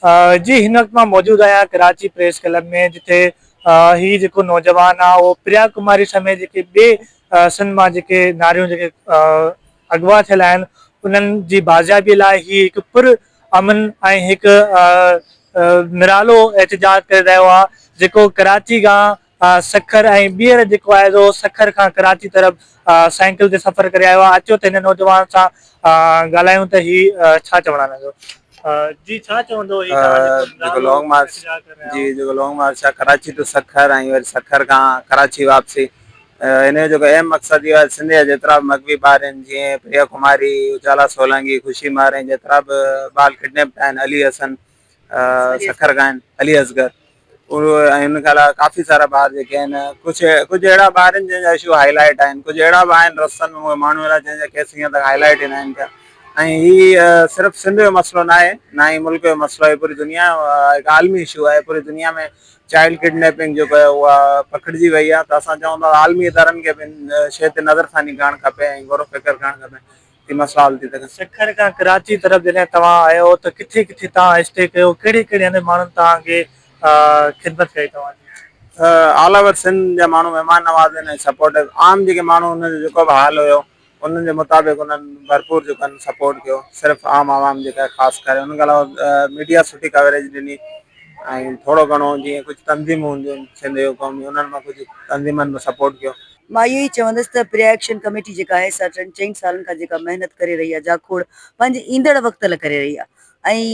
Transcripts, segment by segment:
آء جي هن وقت مان موجود آهيان ڪراچي پريس ڪلب ۾ جتي هي جيڪو نوجوان آ اهو پريا ڪماري سميت جيڪي ٻي سنڌ مان جيڪي ناريون جيڪي اغوا ٿيل آهن انهن جي بازيابي لاء هي هڪ پر امن ۽ هڪ نرالو احتجاج ڪري رهيو آ جيڪو ڪراچي کان سکر ۽ ٻيهر جيڪو آهي سو سکر کان ڪراچي طرف سائيڪل تي سفر ڪري آيو آهي اچو ته هن نوجوان سان ڳالهايون ته هي ڇا چوڻ آهن جو جي ڇا چوندو هي جيڪو لانگ مارچ جي جيڪو لانگ مارچ آهي ڪراچي ٽو سکر ۽ وري سکر کان ڪراچي واپسي ان جو جيڪو اهم مقصد اهو آهي سنڌ جا جيترا به مغوي ٻار آهن جيئن پريا ڪماري اجالا سولانگي خوشي مهراڻي جيترا به ٻال ڪڊنيپٽ آهن علي حسن سکر کان آهن علي اصغر ۽ ان کان علاوه ڪافي سارا ٻار جيڪي آهن ڪجهه ڪجهه اهڙا ٻار آهن جن جا اشو هاء لائٽ آهن ڪجهه اهڙا به آهن رستن ۾ اهي ماڻهو اهڙا جن جا ڪيس هينئر تائين هاء لائٽ ئي ناهن ٿيا ۽ هي صرف سنڌ جو مسئلو ناهي نه ئي ملڪ جو مسئلو آهي پوري دنيا جو هڪ عالمي اشو آهي پوري دنيا ۾ چائلڊ ڪڊنيپنگ جيڪو آهي اها پکڙجي وئي آهي ته اسان چئون ٿا عالمي ادارن کي به ان شيء تي نظرثاني ڪرڻ کپي ۽ غور و فڪر ڪرڻ کپي تي مان سوال ٿي ڪريان. سکر کان ڪراچي طرف جڏهن توهان آيو ته ڪٿي ڪٿي توهان اسٽي ڪيو ڪهڙي ڪهڙي هنڌ ماڻهن توهان کي خدمت ڪئي توهان جي. آل اوور سنڌ جا ماڻهو مهمان نواز آهن ۽ سپورٽو عام جيڪي ماڻهو انهن جو جيڪو به حال هيو انهن جي مطابق انهن ڀرپور جيڪو آهن سپورٽ ڪيو صرف عام عوام جيڪا آهي خاص ڪري ان کان علاوه ميڊيا سٺي ڪوريج ڏني ۽ ٿورو گهڻو جيئن ڪجهه تنظيمون هونديون آهن سنڌ يوٿ قومي انهن مان ڪجهه تنظيمن به سپورٽ ڪيو. مان اهو ئي چوندس ته پريا ايڪشن ڪميٽي جيڪا آهي سا ٽن چئن سالن کان جيڪا محنت ڪري رهي آهي جاکوڙ پنهنجي ايندڙ وقت لاء ڪري رهي آهي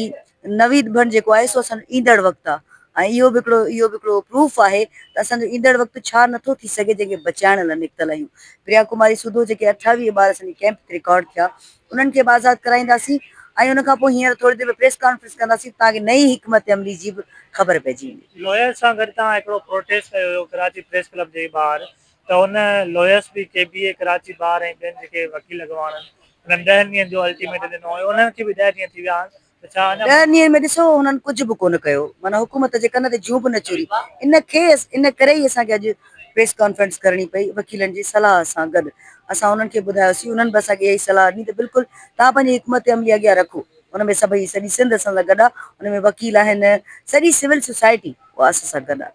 ۽ نويد ڀڻ جيڪو آهي سو اسان ايندڙ وقت آهي ۽ اهو به هڪڙو اهو به هڪڙو پروف آهي ته اسان جو ايندڙ وقت ڇا نٿو ٿي سگهي جنهن کي بچائڻ لاء نڪتل آهيون پريا ڪماري سوڌو جيڪي اٺاويهه ٻار اسان جي ڪئمپ تي رڪارڊ ٿيا انهن کي به آزاد ڪرائينداسين ۽ ان کان پوء هينئر ٿوري دير ۾ پريس ڪانفرنس ڪنداسين تان ڪي نئين حڪمت عملي جي به خبر پئجي ويندي. لويس سان گڏ توهان هڪڙو پروٽيسٽ ڪيو هيو ڪراچي پريس ڪلب جي ٻاهر ته ان لويس به ڪي بي اي ڪراچي بار ۽ ٻين جيڪي وڪيل اڳواڻن انهن ڏهن ڏينهن جو الٽيميٽم ڏنو هيو انهن کي به ڏهه ڏينهن ٿي ويا آهن ڏهه ڏينهن ۾ ڏسو هنن ڪجهه به ڪونه ڪيو معنيٰ حڪومت جي ڪن تي جون به نه چوري ان کي ان ڪري ئي اسان کي اڄ پريس ڪانفرنس ڪرڻي پئي وڪيلن جي صلاح سان گڏ اسان انهن کي ٻڌايوسين انهن به اسان کي اها ئي صلاح ڏني ته بلڪل توهان پنهنجي حڪمت عملي اڳيان رکو ان ۾ سڀئي سڄي سنڌ اسان سان گڏ آهي ان ۾ وڪيل آهن سڄي سول سوسائٽي اها اسان سان گڏ آهي.